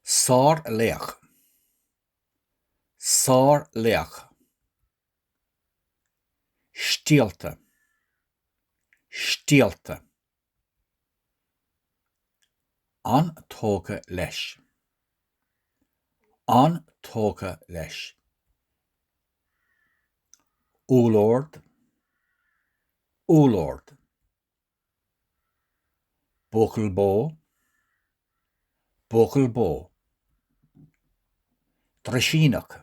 Sár-laoch. Sár-laoch. Stiallta. Stiallta. An-tógtha leis. An-tógtha leis. Úllord. Úllord. Buachaill bó. Buachaill bó. Drisíneach.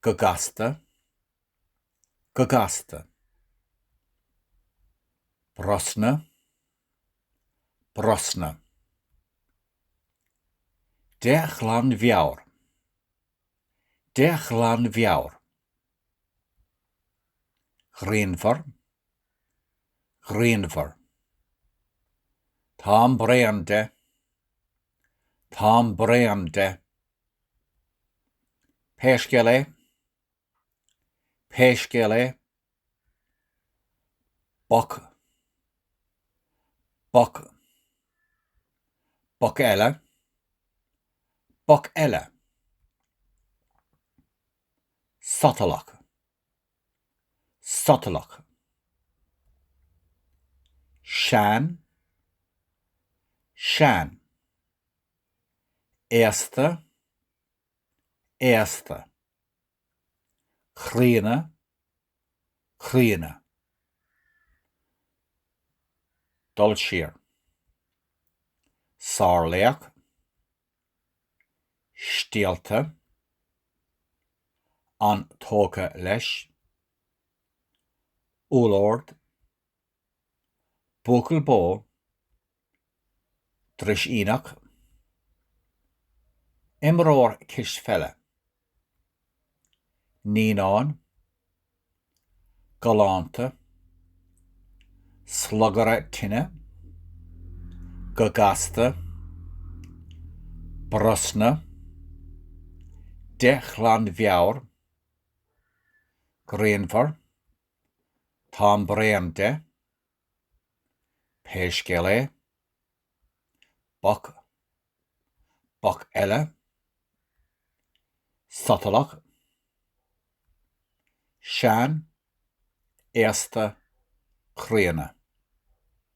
Go gasta, go gasta. Brosna, brosna. De ghlanmheabhair, de ghlanmheabhair. Grianmhar, grianmhar. Táim bréan de. Táim bréan de. Pé scéal é, pé scéal é, boc, boc, boc eile, boc eile, sotalach. sotalach, sean, sean, aosta, aosta, críonna, críonna, dul siar, sárlaoch, steallta, an-tógtha leis, úllord, buachaill bó, drisíneach, imreoir cispheile. Naíonáin, galánta, Slugaire tine, go gasta, Brosna, de ghlanmheabhair, Grianmhar, táim bréan de, Pé scéal é, boc, boc eile, sotalach, sean, aosta, críonna.